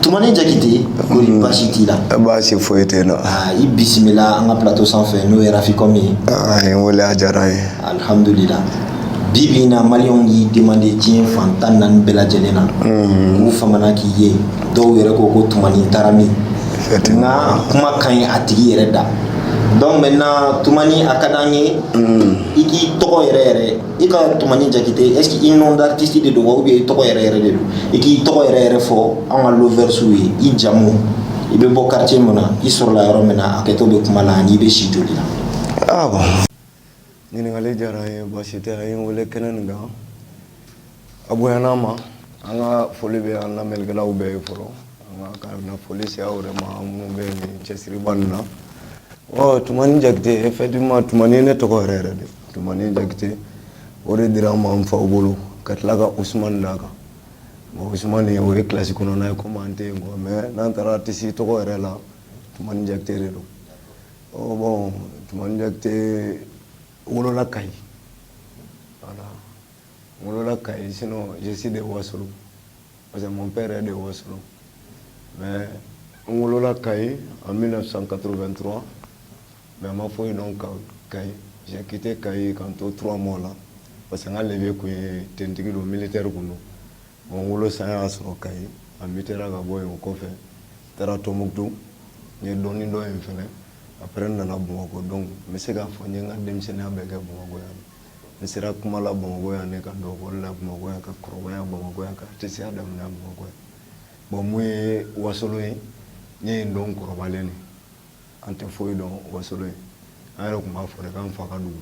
Tumani Jakite kori mm. baasi t'i la baasi foyi tɛ n na i bisimila an ka plateau sanfɛ n'o ye Rafikɔm ye a ye n wele a diyara n ye alihamudulila bi bi in na maliyɛnw y'i demande diɲɛ fan tan ni naani bɛɛ lajɛlen na mm. k'u famana k'i ye dɔw yɛrɛ ko ko tumani taara min nka kuma ka ɲi a tigi yɛrɛ da donc maintenant tumani a ka d'an ye mm. i k'i tɔgɔ yɛrɛ yɛrɛ i ka tumani jakite est ce que i nom d'artiste de don wa ou bien i tɔgɔ yɛrɛ yɛrɛ de don i k'i tɔgɔ yɛrɛ yɛrɛ fɔ an ka loversiw ye i jamu i bɛ bɔ quartier mun na i sɔrɔla yɔrɔ min na a kɛtɔ bɛ kuma la ani i bɛ si joli la ah ɲininkali diyara n ye baasi tɛ a ye n wele kɛnɛ nin kan a bonyana n ma n ka foli bɛ an lamɛnnikɛlaw bɛɛ ye fɔlɔ an ka ka na foli se aw yɛrɛ ma minnu bɛ nin cɛsiriba nin na ɔ tumani jakite effectivement tumani ne tɔgɔ yɛrɛ yɛrɛ de tumani jakite o de dira n ma n faw bolo ka tila ka usumani d'a kan bon usumani o ye kilasi kɔnɔna ye komi an tɛ yen quoi mais n'an taara aritisi tɔgɔ yɛrɛ la tumani jakite de don Ɔ tuma tɛ wolola ka ɲi wolola ka ɲi sin jisi de waso parce que n bɛɛ yɛrɛ de waso mɛ n wolola ka ɲi an bɛna san kato bɛ n dɔrɔn mɛ a ma fɔ yen dɔn ka ka ɲikite ka ɲi ka to t mɔgɔw la parce que n ka le tun ye ttigi don mili teriri tun don Bon wolo san y'a sɔrɔ kayi a mutera ka bɔ yen o kɔfɛ taara tumutu n ye dɔɔnin dɔn yen fana après nana bamakɔ donc n bɛ se k'a fɔ n ye n ka denmisɛnninya bɛɛ kɛ bamakɔ yan n sera kuma la bamakɔ yan ne ka dɔn la bamakɔ yan ka kɔrɔya bamakɔ yan ka tɛya da bamakɔ bon min ye wasolo ye n y'a dɔn kɔrɔbalen de an tɛ foyi dɔn wasolo an yɛrɛ tun b'a fɔ k' fa ka dugu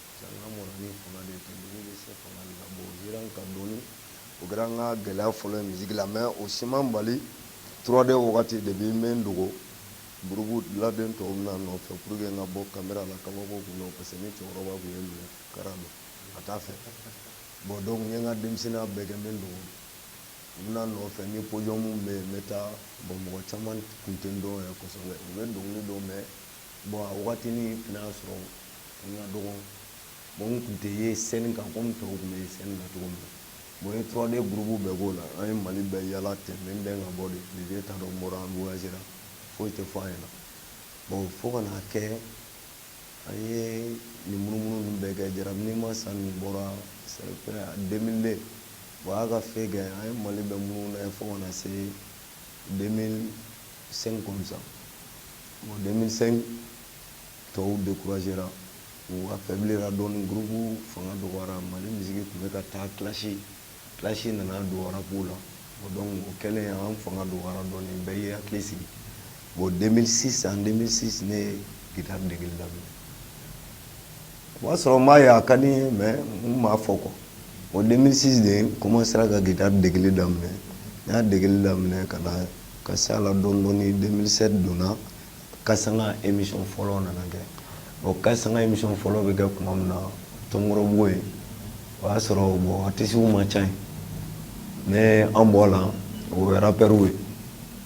Sanga mɔna ni fanga de ye ka doni bɛ se fanga de la bon Zeran ka doni o kɛra n ka gɛlɛya fɔlɔ ye musique la mais o si ma n bali 3D wagati depuis n bɛ n dogo groupe la den tɔw bɛna n nɔfɛ pour que n kana bɔ camera la kabako tun don parce que ni cɛkɔrɔba tun ye n minɛ kara don a t'a fɛ bon donc n ye n ka denmisɛnninya bɛɛ kɛ n bɛ n dogo u bɛna n nɔfɛ ni podium bɛ yen n bɛ taa bon mɔgɔ caman tun tɛ n dɔn yɛrɛ kosɛbɛ u bɛ dɔnkili dɔn mais Bon a wagatinin fana y'a sɔrɔ n ka dɔgɔ bon n tun tɛ ye sɛni kan komi tɔw tun bɛ ye sɛni na cogo min bon 3D gurubu bɛɛ k'o la an ye mali bɛɛ yaala tɛ min bɛn ka bɔ de filibi ta dɔn bɔra an bsera foyi tɛ fɔ an ye na bon fo ka na kɛ an ye nin munumunu bɛɛ kɛ jara ni ma san min bɔra den o y'a ka fɛn kɛ an ye mali bɛɛ munumunu fo ka na se den 5 comme ça bon 2005 tɔw découragera u affaiblira dɔɔni groupe fanga dɔgɔyara Mali musique tun bɛ ka taa clash clash nana don rap la bon donc o kɛlen an fanga dɔgɔyara dɔɔni bɛɛ y'i hakili sigi bon 2006 en 2006 ne ye guitare degeli daminɛ o b'a sɔrɔ n b'a ye a ka di n ye mais n m'a fɔ quoi bon 2006 de n commencera ka guitare degeli daminɛ n y'a degeli daminɛ ka na Ka se a la dɔɔni dɔɔni 2007 donna Case Sanga émission fɔlɔ nana kɛ o Case Sanga émission fɔlɔ bɛ kɛ tuma min na Tomɔrɔbugu yen o y'a sɔrɔ bon artistes ma ca yen mais an bɔ la o ye rappeurs ye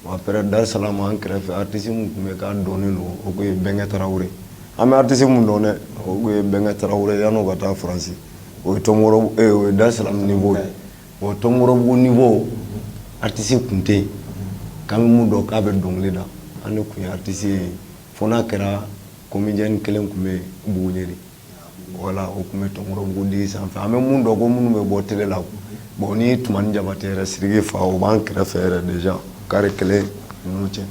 bon après Dar Salam an kɛrɛfɛ artiste min tun bɛ yen k'a dɔnnen don o tun ye Bɛnkɛ Tarawele an bɛ artiste min dɔn dɛ o tun ye Bɛnkɛ Tarawele ye yanni o ka taa France o ye Tomɔrɔbu ee o ye Dar Salam niveau ye bon Tomɔrɔbugu niveau artistes tun tɛ yen k'an bɛ minnu dɔn k'a bɛ dɔnkili da an tun ye artistes ye fo n'a kɛra comédien kelen tun bɛ Buguniɛrɛ voilà o tun bɛ Tomɔrɔbugu de sanfɛ an bɛ minnu dɔn ko minnu bɛ bɔ télé la bon ni Tumani Jabatɛ yɛrɛ Sidiki fa o b'an kɛrɛfɛ déjà carré kelen ninnu cɛ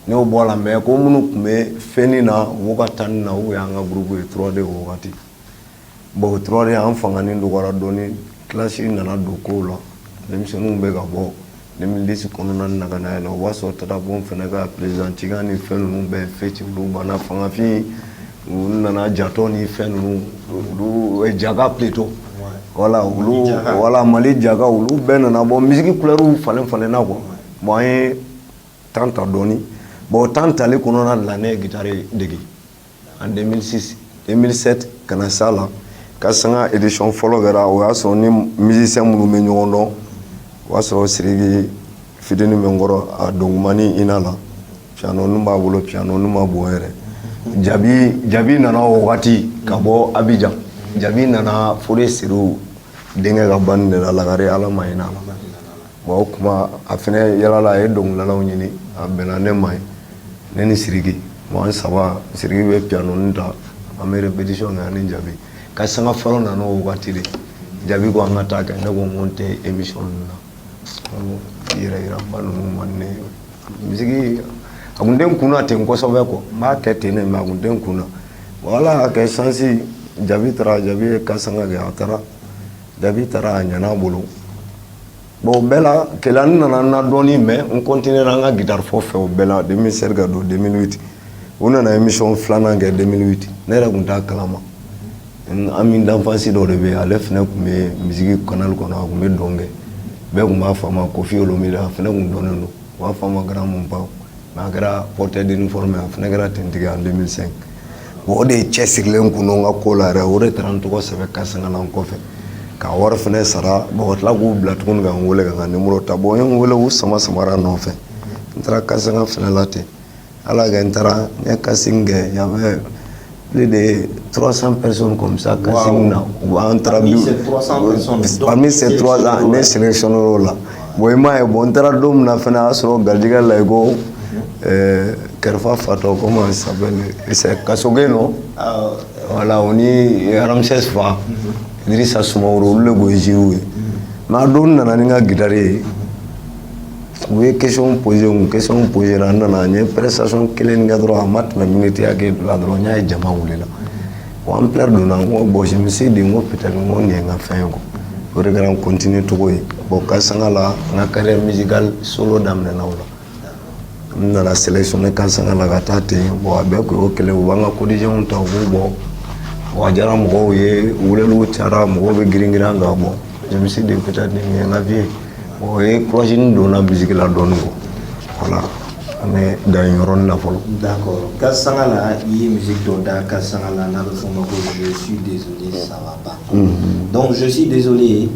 n'o bɔra a la mais ko minnu tun bɛ fɛn na mɔgɔ ka temps na o y'an ka groupe ye 3D o wagati bon 3D an fanganin dɔgɔyara dɔɔni clash nana don kow la denmisɛnninw bɛ ka bɔ 2010 kɔnɔna na ka na yɛlɛ o y'a sɔrɔ Tata Pound fana ka président cikan ni fɛn ninnu bɛɛ fɛti olu banna Fangafin u nana jatɔ ni fɛn ninnu olu jaka plutôt voilà voilà Mali jaka olu bɛɛ nana bɔ musique couleur falen falenna quoi bon an ye temps ta dɔɔni bon temps tali kɔnɔna la ne ye guitare dege en 2006 2007 ka na s'a la Case Sanga édition fɔlɔ kɛra o y'a sɔrɔ ni musiciens minnu bɛ ɲɔgɔn dɔn o y'a sɔrɔ Sidiki fitini bɛ n kɔrɔ a dɔgɔmannin na la pianoni tun b'a bolo pianoni tun man bon yɛrɛ Jabi Jabi nana o wagati ka bɔ Abijan Jabi nana Fode Sidiw denkɛ ka banni de la Lagare Ala ma hinɛ a la o tuma a fana yalala a ye dɔnkilidalaw ɲini a bɛnna ne ma ye ne ni Sidiki an saba Sidiki bɛ pianoni ta an bɛ répétition kɛ an ni Jabi Case Sanga fɔlɔ nana o waati de Jabi ko an ka taa kɛ ne ko n tɛ émission ninnu na yɛrɛ yiraba ninnu man di ne ye misiki a tun tɛ n kun na ten kosɛbɛ quoi n b'a kɛ ten de mais a tun tɛ n kun na bon Ala y'a kɛ chance Jabi taara Jabi ye Case Sanga kɛ a taara Jabi taara a ɲɛna a bolo Bon o bɛɛ la kɛlɛ n nana na dɔɔnin mɛ n kɔnt n an ka gtarfɔ fɛ o bɛɛ la de bɛ se ka don denmisɛnninti u nana ye misɔn filanan kɛ denmisɛnninti ne yɛrɛ tun taa kalama an bɛ danfasi dɔ de bɛ ale fana tun bɛ misi kɔnɔ a tun bɛ dɔn kɛ bɛɛ tun b'a fɔ ma ko fiye olu mi a fana tun dɔnnen don u b'a fɔ ma garan minnu pan Mais a kɛra porteur d'uniforme a fana kɛra finitigi en 2005 bon o de cɛsirilen kun don n ka ko la yɛrɛ o de taara n tɔgɔ sɛbɛn kasanga la n kɔfɛ ka wari fana sara bon ka tila k'u bila tuguni ka n weele ka n ka numéro ta bon u ye n weele u sama samara nɔfɛ n taara kasanga fana la ten ala y'a kɛ n taara n ye casting kɛ yan plus de 300 personnes comme ça casting na bon an taara donc parmi ces 300 ne sélectionné o la bon i m'a ye bon n taara don min na fana a y'a sɔrɔ garijɛgɛ la i ko kɛrɛfɛ fatɔ comment il s'appelle c'est kasoge non voilà o ni ramsès fa Idrissa Soumaoro olu de tun ye jury ye mais a don n nana ni n ka gitari ye u ye question posé u question posé la n nana n ye prestation kelen kɛ dɔrɔn a ma tɛmɛ miniti hakɛ la dɔrɔn n y'a ye jama wulila bon ampleur donna n ko bon je me suis dit n ko peut-être n ko nin ye n ka fɛn ye o de kɛra n continué cogo ye bon kasanga la n ka carrière musicale solo daminɛna o la n nana sélectionné kasanga la ka taa ten bon a bɛɛ kun y'o kelen u b'an ka quotidienw ta u b'u bɔ bon a diyara mɔgɔw ye weleliw cayara mɔgɔw bɛ girin girin an kan bon je me suis dit peut-être nin ye n ka vie ye o ye courage nin don n na musique la dɔɔni quoi voilà an bɛ dan yen yɔrɔnin na fɔlɔ d'accord kasanga la i ye musique dɔ da kasanga la n'a bɛ f'o ma ko je suis désolé ça va pas mm-hmm. donc je suis désolé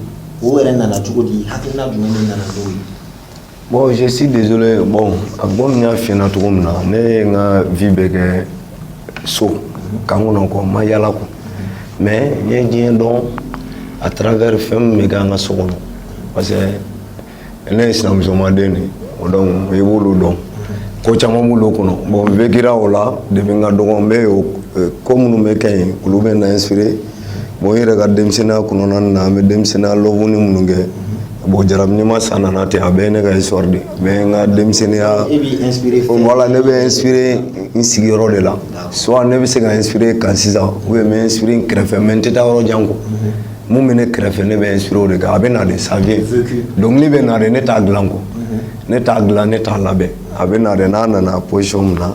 o yɛrɛ nana cogo di hakilina jumɛn de nana n'o ye bon je suis désolé bon comme n y'a f'i ɲɛna cogo min na ne ye n ka vie bɛɛ kɛ so kan kɔnɔ quoi n ma yala quoi mais n ye diɲɛ dɔn à travers fɛn min bɛ kɛ an ka so kɔnɔ parce que ne ye sinamusomaden de ye o donc i b'olu dɔn ko caman b'olu kɔnɔ bon n vécura o la depuis n ka dɔgɔn n bɛ ko minnu bɛ kɛ yen olu bɛ n inspiré bon n yɛrɛ ka denmisɛnninya kɔnɔna na an bɛ denmisɛnninya loveni minnu kɛ bon jarabi ɲuman sa nana ten a bɛɛ ye ne ka histoire de mais n ka denmisɛnninya voilà ne bɛ inspiré n sigiyɔrɔ de la soit ne bɛ se ka inspiré kan sisan ou bien n bɛ inspiré n kɛrɛfɛ mais n tɛ taa yɔrɔ jan quoi mun bɛ ne kɛrɛfɛ ne bɛ inspiré o de kan a bɛ na de ça vient dɔnkili bɛ na de ne t'a dilan quoi ne t'a dilan ne t'a labɛn a bɛ na de n'a nana position min na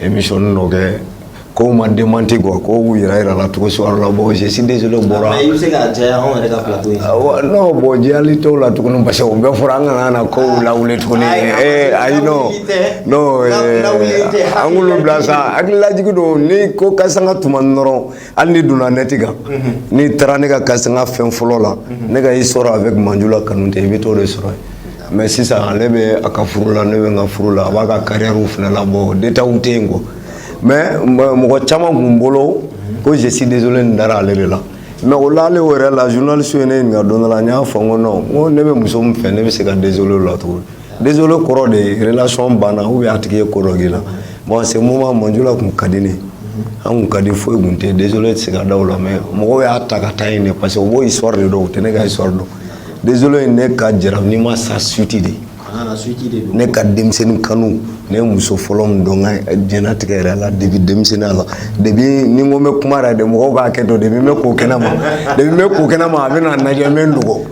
émission dɔ kɛ kow ma démenti quoi kow yira yirala cogo suguya dɔ la bon je suis désolé o bɔra mais i bɛ se k'a jɛya anw yɛrɛ ka plateau in sanfɛ non bon jɛyali t'o la tuguni parce que o bɛɛ fɔra an kana na kow lawuli tuguni ee ayi non non an k'olu bila sa hakililajigi don ni ko kasanga tuma dɔrɔn hali n'i donna nɛti kan n'i taara ne ka kasanga fɛn fɔlɔ la ne ka histoire avec manjula kanute i bɛ t'o de sɔrɔ yen Mais sisan ale bɛ a ka furu la ne bɛ n ka furu la a b'a ka carrière fana la bɔ de tɛ yen kɔ mais mɔgɔ caman tun bolo ko je suis désolé nin dara ale de la mais o la ale yɛrɛ la journalistew ye ne ɲininka don la n y'a fɔ ko ne bɛ muso min fɛ ne bɛ se ka désolé la tugun désolé kɔrɔ de relation banna u y'a tigi ye kɔrɔ'i la bon ce moment Manjula tun ka di ne an ka di foyi tun tɛ désolé tɛ se ka da o la mais mɔgɔw y'a ta ka taa ɲini parce que o histoire de dɔn u tɛ ne ka histoire dɔn Désolé ye ne ka jarabini ma sa suite de ne ka denmisɛnnin kanu ne ye muso fɔlɔ min dɔn n ka diɲɛnatigɛ yɛrɛ la depuis denmisɛnninya la depuis ni n ko n bɛ kuma yɛrɛ de mɔgɔw k'a kɛ to depuis n bɛ ko kɛnɛ ma a bɛ na n lajɛ n bɛ n dogo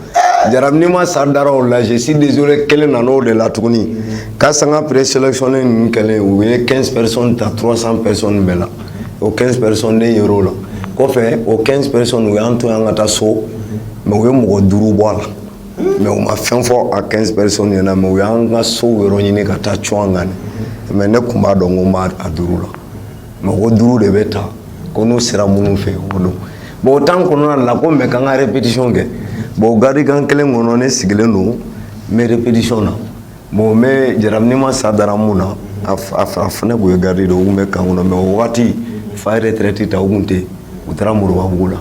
jarabini ma sa dara o la je suis désolé kelen nana o de la tuguni Case Sanga présélectionné ninnu kɛlen u ye 15 personnes ta 300 personnes bɛɛ la o 15 personnes ne yer'o la kɔfɛ o 15 personnes u y'an to yan ka taa so mais u ye mɔgɔ duuru bɔ a la mais u ma fɛn fɔ a 15 personnes ɲɛ na mais u y'an ka sow yɔrɔ ɲini ka taa cun an kan mais ne tun b'a dɔn ko n b'a duuru la mɔgɔ duuru de bɛ ta ko n'u sera minnu fɛ o don bon o temps kɔnɔna la ko n bɛ ka n ka répétition kɛ bon garde camp kelen kɔnɔ ne sigilen don n bɛ répétition na Bon mais jarabini ma sa dara mun na a fa nin tun ye garde don u tun bɛ camp kɔnɔ mais o waati fa ye retraite ta u tun tɛ yen u taara Moribabugu la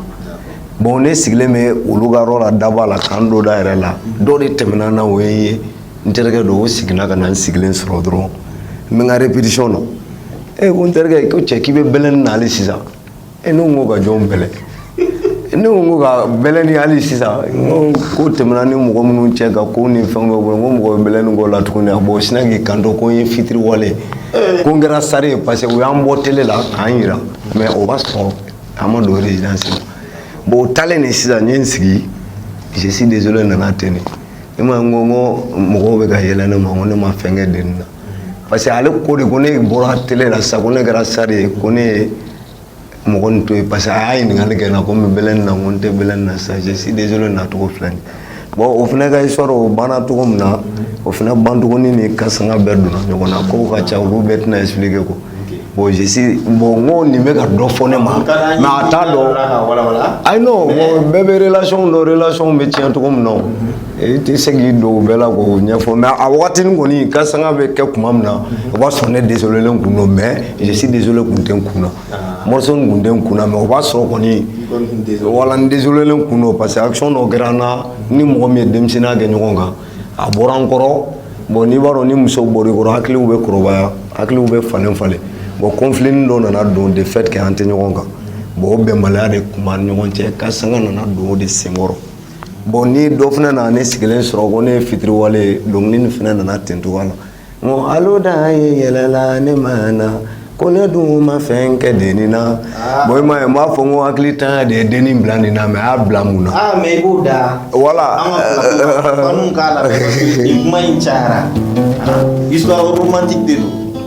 bon ne sigilen bɛ olu ka yɔrɔ la daba la camp donda yɛrɛ la dɔ de tɛmɛna na o ye n ye n terikɛ don o siginna ka na n sigilen sɔrɔ dɔrɔn n bɛ n ka répétition na e ko n terikɛ ko cɛ k'i bɛ bɛlɛnni na hali sisan e n ko ka jɔn bɛlɛn ne ko ko ka bɛlɛnni hali sisan n ko ko tɛmɛna ni mɔgɔ minnu cɛ ka ko ni fɛn bɛ bolo n ko mɔgɔ bɛ bɛlɛnni k'o la tuguni a bɔ sinna k'i kanto ko n ye fitiriwale ye ko n kɛra star ye parce que u y'an bɔ télé la k'an jira mais o b'a sɔrɔ an ma don résidence la bon o taalen de sisan n ye n sigi je suis désolé nana ten de ne ma n ko n ko mɔgɔw bɛ ka yɛlɛ ne ma n ko ne ma fɛn kɛ den na parce que ale ko de ko ne bɔra télé la sisan ko ne kɛra star ye ko ne ye mɔgɔ nin to yen parce que a y'a ɲininkali kɛ n na ko n bɛ bɛlɛnni na ko n tɛ bɛlɛnni na sisan je suis désolé nacogo filɛ nin bon o fana ka histoire o banna cogo min na o fana ban tuguni ni Case Sanga bɛɛ donna ɲɔgɔn na kow ka ca olu bɛɛ tɛna expliquer ko bon je suis bon n ko nin bɛ ka dɔ fɔ ne ma mais a t'a dɔn ayi non bon bɛɛ bɛ relation dɔn relation bɛ tiɲɛ cogo min na o i tɛ se k'i don o bɛɛ la k'o ɲɛfɔ mais a waati kɔni Case Sanga bɛ kɛ tuma min na o b'a sɔrɔ ne désolélen kun don mais je suis désolé kun tɛ n kun na ah. morceau nin kun tɛ n kun na mais o b'a sɔrɔ kɔni voilà n désolélen kun don parce que action dɔ kɛra n na ni mɔgɔ min ye denmisɛnninya kɛ ɲɔgɔn kan a bɔra n kɔrɔ bon n'i b'a dɔn ni musow bɔr'i kɔrɔ hakiliw bɛ kɔrɔbaya hakiliw bɛ falen falen bon conflitini dɔ nana don de fait que an tɛ ɲɔgɔn kan bon o bɛnbaliya de tun b'an ɲɔgɔn cɛ Case Sanga nana don o de senkɔrɔ bon ni dɔ fana nana ne sigilen sɔrɔ ko ne ye fitiriwale ye dɔnkili nin fana nana ten cogoya la n ko alo da ye yɛlɛla ne ma na ko ne dun ma fɛn kɛ dennin na ah. bon i ma ye n b'a fɔ n ko hakilintanya de ye dennin bila nin na mais a y'a bila mun na. aa ah, mais i b'o da. voilà an ka k'a la nin kuma in cayara ah, histoire romantique de don.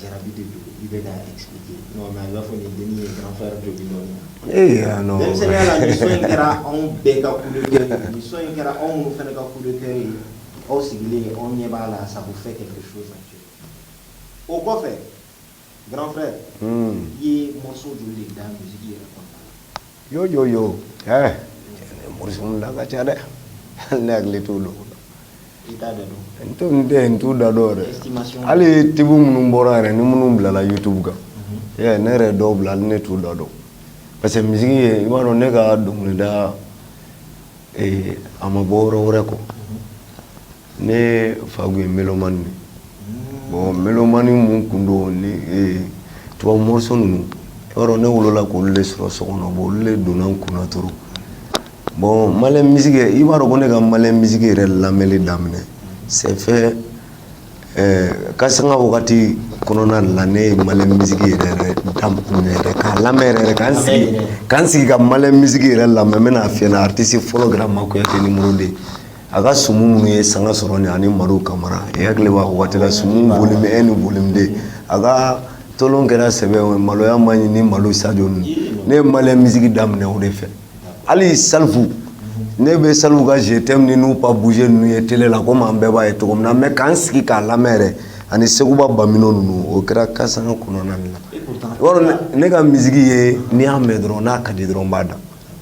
Jarabi de don i bɛ k'a expliquer non mais a bɛ i n'a fɔ nin dennin ye grand frère dɔ de nɔ minɛ, ee aa non, denmisɛnninya la nin son in kɛra anw bɛɛ ka coup de coeur ye, nin son in kɛra aw minnu fana ka coup de coeur ye aw sigilen aw ɲɛ b'a la ça vous fait quelque chose o kɔfɛ grand frère i ye morceau joli de da musique yɛrɛ kɔnɔna la? Yo yo yo ɛɛ morceau ninnu da ka ca dɛ, hali ne hakili t'u dɔw la, i t'a da dɔn, n t'o n tɛ n t'o da dɔn yɛrɛ, estimation hali tube minnu bɔra yɛrɛ ni minnu bilala youtube kan, unhun, i y'a ye ne yɛrɛ dɔw bila hali ne t'u da dɔn parce que musique ye i b'a dɔn ne ka dɔnkilida ee a ma bɔ yɔrɔ wɛrɛ quoi Ne fa tun ye mélomane bon mélomane minnu tun don ni tubabu morceau ninnu yɔrɔ ne wolola k'olu de sɔrɔ so kɔnɔ olu de donna n kun na tɔ bon Mali musique i b'a dɔn ko ne ka Mali musique yɛrɛ lamɛnli daminɛ c'est Case Sanga wagati kɔnɔna la ne ye Mali musique yɛrɛ ka lamɛn ka sigi ka sigi ka Mali musique yɛrɛ lamɛn bɛna a fi artiste fɔlɔ kɛra Mah Kouyaté numéro deux A ka sumu minnu ye sanga sɔrɔ nin ani Maru Kamara e hakili b'a waati la sumu volume un ni volume deux a ka tolon kɛra sɛbɛ ye maloya man ɲi ni Mali Sadio ne ye Mali musique daminɛ o de fɛ hali Salif ne bɛ Salif ka Je t'aime ni Nou pas bouger ninnu ye télé la comme an bɛɛ b'a ye cogo min na mais ka n sigi k'a lamɛn yɛrɛ ani Sékouba Bambino ninnu o kɛra Case Sanga kɔnɔna la ne ka musique ye ni n y'a mɛn dɔrɔn n'a ka di dɔrɔn n b'a da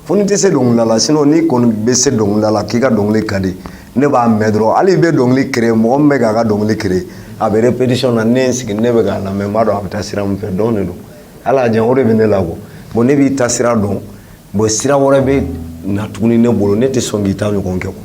fo n'i tɛ se dɔnkilida la sinon n'i kɔni bɛ se dɔnkilida la k'i ka dɔnkili ka di ne b'a mɛn dɔrɔn hali i bɛ dɔnkili créer mɔgɔ min bɛ k'a ka dɔnkili créer a bɛ répétition na ne ye n sigi ne bɛ k'a lamɛn n b'a dɔn a bɛ taa sira min fɛ don de don hali a jan o de bɛ ne la quoi bon ne b'i ta sira dɔn bon sira wɛrɛ bɛ na tuguni ne bolo ne tɛ sɔn k'i ta ɲɔgɔn kɛ quoi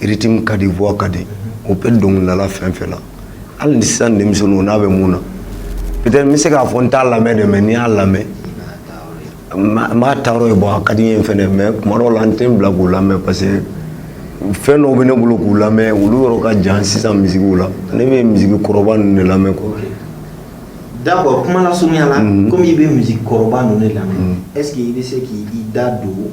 Rythme ka di voix ka di o bɛ dɔnkilidala fɛn fɛn na hali ni sisan denmisɛnninw n'a bɛ mun na i bɛ se k'a fɔ n t'a lamɛn dɛ mais ni n y'a lamɛn n bɛ taa a ye bon a ka di n ye fana mais kuma dɔw la n tɛ n bila k'u lamɛn parce que fɛn dɔw bɛ ne bolo k'u lamɛn olu yɔrɔ ka jan sisan musique la ne bɛ musique kɔrɔba ninnu de lamɛn quoi d'accord kuma lasurunya la comme i bɛ musique kɔrɔba ninnu lamɛn est-ce que i bɛ se k'i da don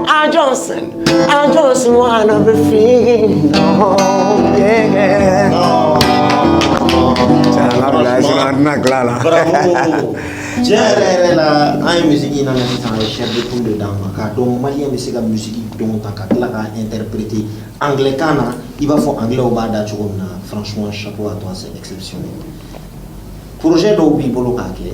I Johnson, I just wanna be free. No, yeah. No. Bravo. Tiɲɛ yɛrɛ yɛrɛ la an ye misiki in lamɛn sisan a ye chair de poule de d'an ma k'a dɔn maliyɛn bɛ se ka misiki dɔ ta ka tila k'a interpréter anglais kan na i b'a fɔ anglais b'a da cogo min na franchement chapeau à toi c'est exceptionnel projet dɔw b'i bolo k'a kɛ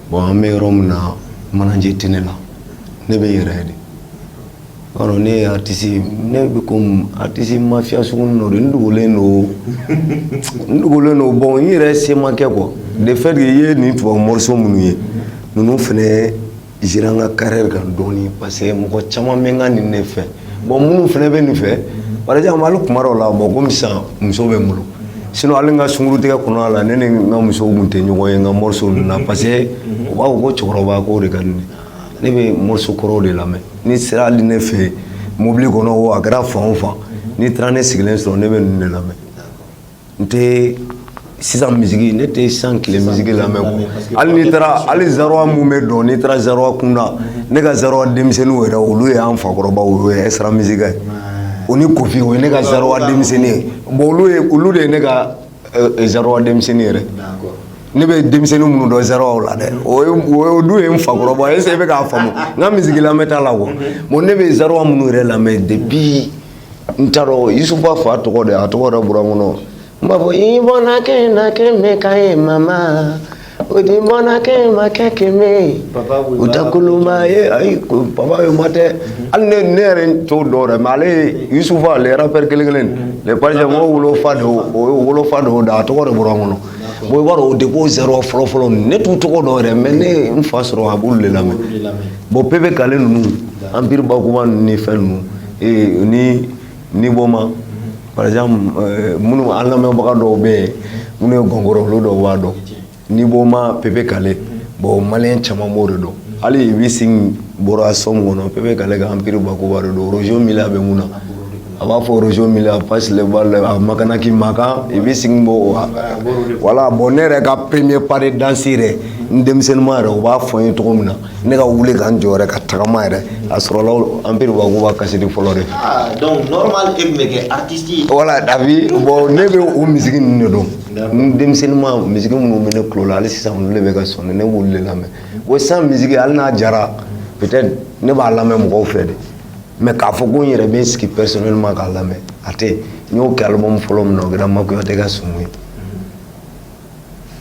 bɔn an bɛ yɔrɔ min na manajɛ tɛ ne la ne bɛ yɛrɛ de yɔrɔ ne ye aratisi ne bɛ comme atisi mafya sugu nɔ de n dogolen don n dogolen don bɔn n yɛrɛ semakɛ kɔ de fɛ de ye nin tubabu morceau minnu ye ninnu fana agira n ka carrière kan dɔɔnin parce que mɔgɔ caman bɛ ka nin ne fɛ bɔn minnu fana bɛ nin fɛ par exemple hali kuma dɔw la bɔn komi sisan muso bɛ n bolo sinon hali n ka sungurutigɛ kɔnɔna la ne ni n ka muso tun tɛ ɲɔgɔn ye n ka morceau ninnu na parce que u b'a fɔ ko cɛkɔrɔba ko de ka di ne ye ne bɛ morceau kɔrɔw de lamɛn n'i sera hali ne fɛ yen mobili kɔnɔ o a kɛra fan o fan n'i taara ne sigilen sɔrɔ ne bɛ ninnu de lamɛn n tɛ sisan misiki ne tɛ san tile misiki lamɛn ko hali n'i taara hali zaïrois minnu bɛ dɔn n'i taara zaïrois kunda ne ka zaïrois denmisɛnninw yɛrɛ olu ye an fakɔrɔba o ye Extra Musica ye o ni Koffi o ye ne ka zaïrois denmisɛnnin ye bon olu ye olu de ye ne ka zaïrois denmisɛnnin yɛrɛ ne bɛ denmisɛnnin minnu dɔn zaïrois la dɛ o dun ye n fakɔrɔba est-ce i bɛ k'a faamu n ka misiki lamɛnta la wa bon ne bɛ zaïrois minnu yɛrɛ lamɛn de bi n t'a dɔn yusufa fa tɔgɔ de a tɔgɔ de bɔra n kɔnɔ n b'a fɔ i bɔnna kɛ na kɛ mɛ ka ye mama o di bɔnna kɛ ma kɛ kɛ mɛ u tɛ kolonba ye ayi baba ye ma tɛ hali ne ne yɛrɛ t'o dɔn yɛrɛ mɛ ale yusufa le rappeur kelen kelen le parisien mɔgɔ wolofa de o ye wolofa de o da a tɔgɔ de bɔra n kɔnɔ bon i b'a dɔn o de ko zaïrois fɔlɔ fɔlɔ ne t'u tɔgɔ dɔn yɛrɛ mɛ ne n fa sɔrɔ a b'olu de lamɛn bon Pépé Kallé ninnu Empire Bakuba ninnu ni fɛn ninnu ee ni Nyboma par exemple euh, minnu an lamɛnbaga dɔw bɛ yen minnu ye gɔngɔrɔ olu dɔw b'a dɔn Nyboma Pépé Kallé bon maliyɛn caman b'o de dɔn hali i bɛ sin bɔra sɔmu kɔnɔ Pépé Kallé ka Empire Bakuba de don Roger Milla bɛ min na a b'a fɔ Roger Milla passe le ballon à Makanaky makan i bɛ sin bɔ voilà bon ne yɛrɛ ka premier pas de danse yɛrɛ n denmisɛnninma yɛrɛ u b'a fɔ n ye cogo min na ne ka wuli ka n jɔ yɛrɛ ka tagama yɛrɛ a sɔrɔla Empire Bakuba cassette fɔlɔ de ah, donc normal e bɛ kɛ artiste ye voilà dabi bon ne bɛ o misiki ninnu de dɔn n denmisɛnninma misiki minnu bɛ ne tulo la hali sisan olu de bɛ ka sonner ne b'olu de lamɛn o san misiki hali n'a diyara peut-être ne b'a lamɛn mɔgɔw fɛ de mais k'a fɔ ko n yɛrɛ bɛ n sigi personnellement k'a lamɛn a tɛ n y'o kɛ album fɔlɔ min na o kɛra Mah Kouyaté ka sumu ye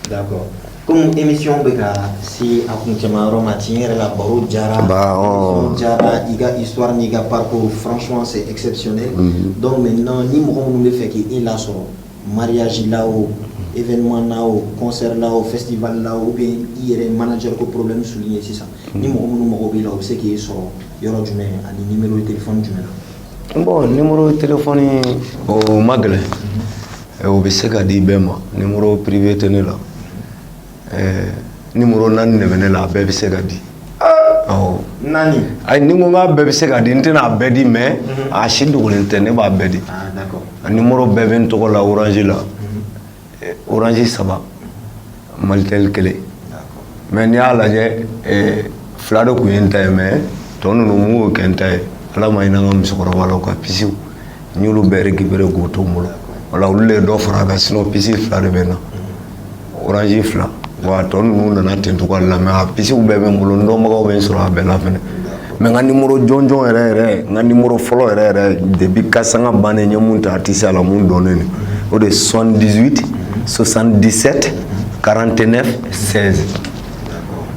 D'accord comme émission bɛ ka se a kuncɛma yɔrɔ ma tiɲɛ yɛrɛ la baro diyara émission diyara i ka histoire n'i ka parcours franchement c'est exceptionnel donc maintenant ni mɔgɔ minnu bɛ fɛ k'i e lasɔrɔ mariage la o événement na o concert la o festival la o ou bien i yɛrɛ manager ko problème souligner sisan ni mɔgɔ minnu mago b'i la u bɛ se k'i sɔrɔ yɔrɔ jumɛn ani numéro de téléphone jumɛn na bon numéro de téléphone o man gɛlɛn Ɛ o bɛ se ka di bɛɛ ma numéro privé tɛ ne la ɛɛ numéro 4 de bɛ ne la a bɛɛ bɛ se ka di aa awɔ 4 ayi ni n ko k'a bɛɛ bɛ se ka di n tɛna a bɛɛ di mais unhun a si dogolen tɛ ne b'a bɛɛ di ah d'accord a numéro bɛɛ bɛ n tɔgɔ la orange la unhun orange 3 Malitel kelen mais n'i y'a lajɛ fila de tun ye n ta ye mais tɔ ninnu mun y'o kɛ n ta ye ala ma hinɛ n ka musokɔrɔba la a ka pisiw n y'olu bɛɛ récupérer k'o to n bolo voilà olu de ye dɔ fara a kan sinon pisi fila de bɛ n na orange fila wa tɔ ninnu nana ten cogoya de la mais a pisiw bɛɛ bɛ n bolo n dɔnbagaw bɛ n sɔrɔ a bɛɛ la mais n ka numéro jɔnjɔn yɛrɛ yɛrɛ n ka numéro fɔlɔ yɛrɛ yɛrɛ depuis Case Sanga bannen n ye mun ta artisteya la mun dɔnnen don o de ye 78 77 49 16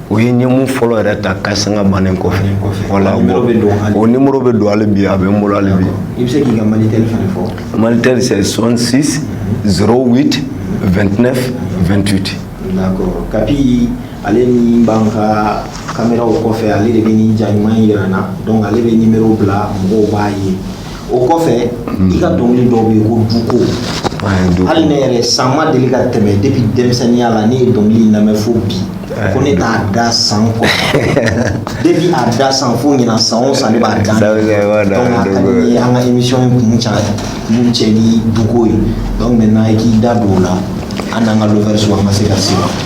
o ye n ye mun fɔlɔ yɛrɛ ta Case Sanga bannen kɔfɛ voilà o numéro bɛ don hali bi a bɛ n bolo hali bi i bɛ se k'i ka Malitel fana fɔ Malitel c'est 66 08 29 28 d'accord kapi ale ni b'an ka kameraw kɔfɛ ale de bɛ nin ja ɲuman in yira an na donc ale bɛ numéro bila mɔgɔw b'a ye o kɔfɛ i ka dɔnkili dɔ bɛ yen ko duko hali ne yɛrɛ san ma deli ka tɛmɛ depuis denmisɛnninya la ne ye dɔnkili in lamɛn fo bi ko ne t'a da san kɔnɔ depuis a da san fo ɲinan san o san ne b'a da donc a ka di n ye an ka émission in kun ca kuncɛ ni duko ye donc maintenant i k'i da don o la an n'an ka lovers an ka se ka se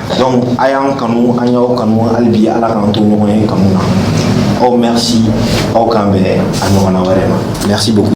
donc a y'an kanu an y'aw kanu hali bi ala k'an to ɲɔgɔn ye kanu na awɔ merci aw k'an bɛn a ɲɔgɔnna wɛrɛ ma merci beaucoup